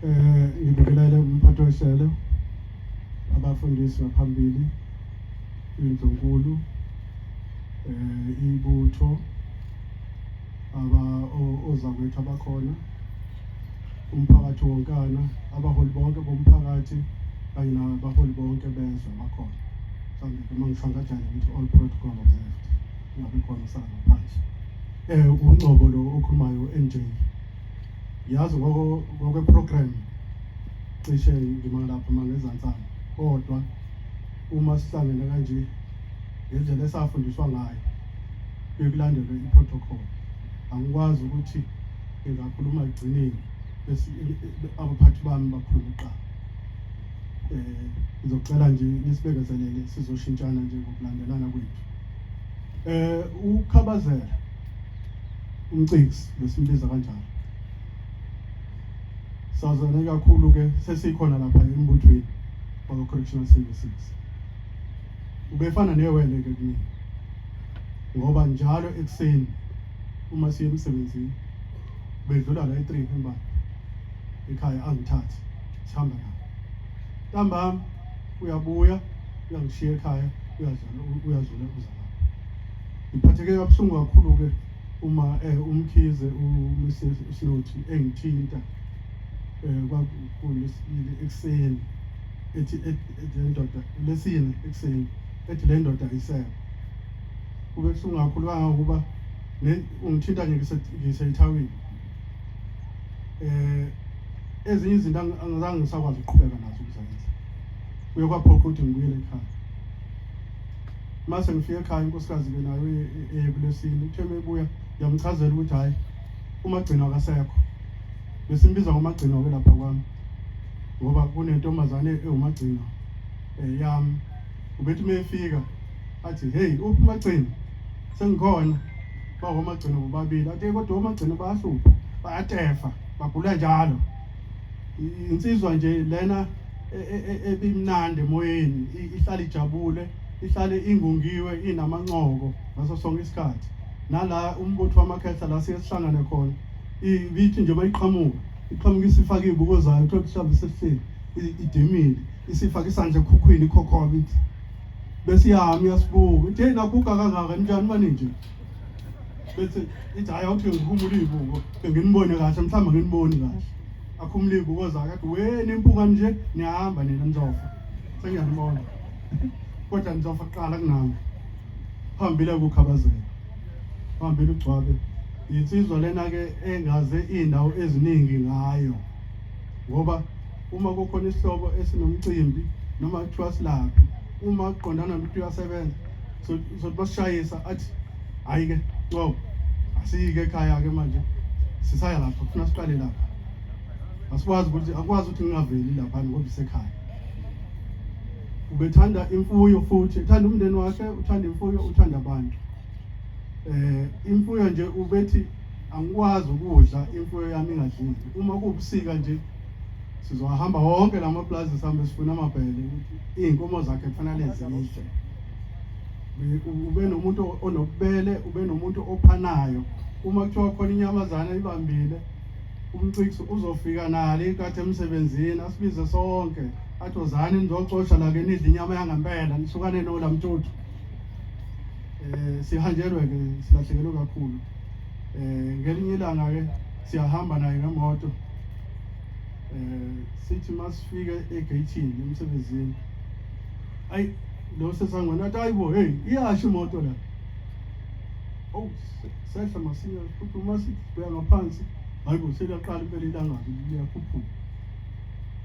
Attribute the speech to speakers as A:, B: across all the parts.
A: Eh ngibingelele umphathi wehlelo abafundisi baphambili indlunkulu eh ibutho aba ozakwethu abakhona umphakathi wonkana abaholi bonke bomphakathi kanye nabaholi bonke bezwe bakhona mhlawumbe uma ngisho ngajane ngithi all protocol observed ngabe khona usanga phansi eh ungcobo lo okhulumayo NJ yazi ngoko ngokwe program cishe ngima lapha mangezantsana kodwa uma sihlangene kanje ngendlela esafundiswa ngayo bekulandelwe i-protocol angikwazi ukuthi ngingakhuluma ekugcineni bese abaphathi bami bakhuluma kuqala um ngizocela nje nisibekezelele sizoshintshana nje ngokulandelana kwethu eh ukhabazela umciksi besimbiza kanjalo sazane kakhulu ke sesikhona lapha embuthweni wakwa correctional services ubefana newele ke kimi ngoba njalo ekuseni uma siye emsebenzini bedlula la e3 emba ekhaya angithathi sihamba naye ntambama uyabuya uyangishiya ekhaya uyadlala uyadlula uzala ngiphatheke kabuhlungu kakhulu ke uma eh umkhize uMrs Slothi engithinta eh kwakulesibili ekseni ethi le ndoda lesine ekseni ethi le ndoda isebe kube kusungu kakhulu kangangokuba ungithinta nje ngiseyithawini eh ezinye izinto angizange ngisakwazi ukuqhubeka nazo ukuzenza kuye kwaphoqa ukuthi ngibuyele ekhaya mase ngifika ekhaya inkosikazi ke nayo e- e- eye kulesini uthe mebuya yamchazela ukuthi hhayi umagcino akasekho besimbiza ngomagcino ke lapha kwami ngoba kunentombazane ewumagcino um yami ubethi uma efika athi heyi uphi umagcini sengikhona baba omagcini bobabili ake kodwa omagcini bayahlupha bayatefa bagula njalo insizwa nje lena e, e, e, ebimnandi emoyeni ihlale ijabule ihlale ingungiwe inamancoko ngaso sonke isikhathi nala umbutho wamakhehla la siye sihlangane khona ibithi nje uma iqhamuka iqhamuka isifake iy'buko zayo kuthiwa mhlawumbe sesihleli idimile isifaka isandla ekhukhwini ikhokhoba kithi bese iyami uyasibuka ithi hey naguga kangaka njani manje nje bese ithi hayi awuthi ngikhumula izibuko nginibone kahle mhlawumbe nginiboni kahle akhumula izibuko zakhe athi we nimpuka nje niyahamba nina nizofa sengiyanibona kodwa nizofa kuqala kunami phambile kukhabazela phambili ugcwabe yinsizwa lena-ke engaze iy'ndawo eziningi ngayo ngoba uma kukhona isihloko esinomcimbi noma kuthiwa silaphi uma kuqondana nokuthi uyasebenza sothi basishayisa athi hhayi-ke ncobo asiyike ekhaya-ke manje sisaya lapha kufuna siqale lapha asikwazi ukuthi akwazi ukuthi ngingaveli laphana ngoba isekhaya ubethanda imfuyo futhi ethanda umndeni wakhe uthanda imfuyo uthanda abantu eh imfuyo nje ubethi angikwazi ukudla imfuyo yami ingadlile uma kuwubusika nje sizowahamba wonke la maplazi sihambe sifuna amabhele iy'nkomo zakhe kufanele zidle ube nomuntu onobubele ube nomuntu ophanayo uma kuthiwa khona inyamazana ibambile umcikisi uzofika nalo inkathi emsebenzini asibize sonke athi ozani nizocosha la ke nidla inyama yangempela nisukane nola mtuthu um eh, sihanjelwe-ke silahlekelwe kakhulu eh ngelinye ilanga ke siyahamba naye ngemoto eh sithi masifika egate-ini emsebenzini ayi lo sesangwana athi ayibo hey iyasho imoto la oh sehla masinya futhi uma sibheka ngaphansi hayi bo seliyaqala impela ilangabi liyakhuphuka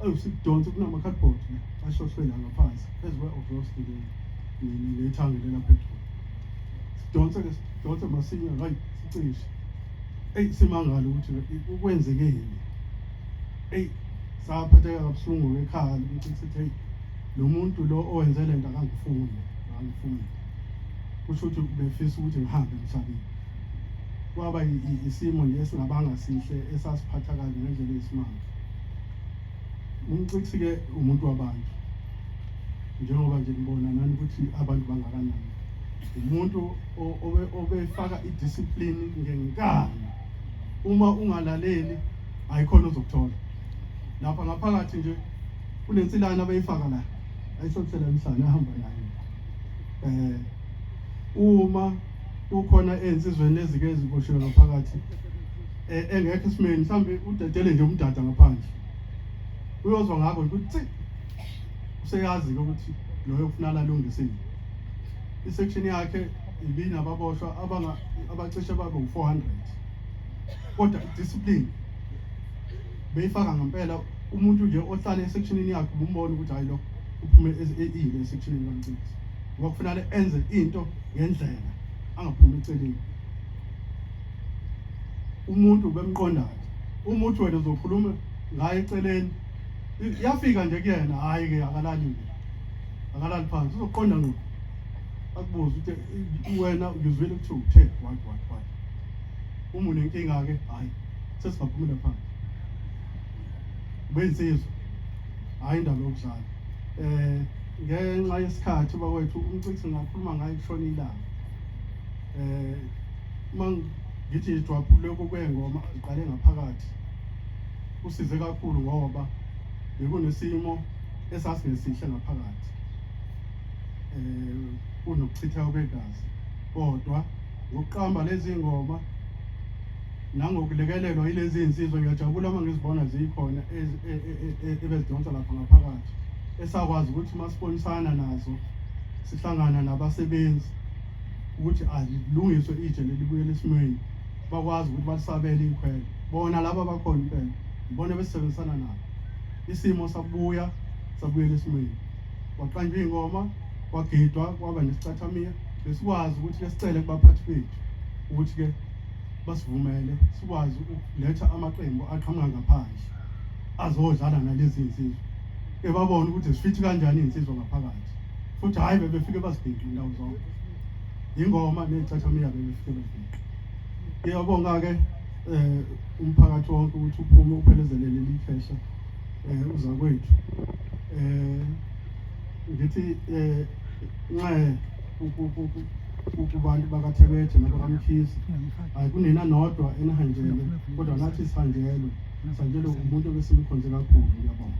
A: awu sikudonsa kunama-cardboard la ashohlwe la ngaphansi phezu kwe-obroski le nethangele lapha edroni sidonsa ke Dota masinya ngayi sicishe. Ey simangala ukuthi ukwenzeke yini. Ey saphatheka kabuhlungu ekhaya ukuthi sithi hey lo muntu lo owenze le nto akangifuni akangifuni. Kusho ukuthi ubefisa ukuthi ngihambe emhlabeni. Kwaba isimo nje esingabanga sihle esasiphatha kabi ngendlela yesimanga. Umcixi-ke umuntu wabantu. njengoba nje nibona nani ukuthi abantu bangakanani umuntu obefaka idiscipline ngenkani uma ungalaleli ayikhona ozokuthola lapha ngaphakathi nje kunensilana abayifaka la ayisothela emhlane ahamba nayo eh uma ukhona ezinsizweni ezike eziboshiwe ngaphakathi e, engekho esimeni mhlambe udedele nje umdada ngaphandle uyozwa ngakho ukuthi Useyazi-ke ukuthi loyo kufuna lalungisile. Isection yakhe ibinababoshwa abanga abacishe babe u-400. Kodwa discipline beyifaka ngempela umuntu nje ohlale esectionini yakhe ubumbona ukuthi hayi lo uphume ezile esectionini kaMcimbi. Ngoba kufanele enze into ngendlela angaphumi eceleni. Umuntu bemqondayo. Umuthi wena uzokhuluma ngaye eceleni yafika nje kuyena hayi ke akalali nje akalali phansi uzoqonda ngqo akubuze ukuthi wena ngizwile ukuthi uthe what what what uma unenkinga ke hayi sesigaphumela phansi bensizwa hayi indaba yokudlala eh ngenxa yesikhathi bakwethu umcikisi ngakhuluma ngaye kushona ilanga eh uma ngithi ngidwaphule kokuyengoma iqale ngaphakathi Kusize kakhulu ngoba bekunesimo esasingesihle ngaphakathi um kunokuchitha kwegazi kodwa ngokuqamba lezi ngoma nangokulekelelwa yilezi nsizwa ngiyajabula uma ngizibona ziyikhona e, e, e, ebezidonsa lapha ngaphakathi esakwazi ukuthi uma sibonisana nazo sihlangana nabasebenzi ukuthi alilungiswe itshe lelibuye lesimweni bakwazi ukuthi balisabele ikhwela bona laba bakhona impela ngibona besisebenzisana nabo isimo sabuya sabuyela esimweni kwaqanjwa iy'ngoma kwagidwa kwaba nesicathamiya besikwazi ukuthi-ke sicele kubaphathi bethu ukuthi-ke basivumele sikwazi ukuletha amaqembu aqhamuka ngaphandle azodlala nalezi nsizwa ebabona ukuthi zifithi kanjani iy'nsizwa ngaphakathi futhi hhayi bebefike bazibhidle indawo zonke yingoma ney'cathamiya bebefike bezibhidle ngiyabonga-ke um umphakathi wonke ukuthi uphume uphelezelele leli khehla um uzakwethu um ngithi um nxe kubantu bakathebethe nabakamkhizi hayi kunina nodwa enihanjelwe kodwa nathi sihanjelwe sihanjelwe umuntu obesimkhonze kakhulu ngiyabonga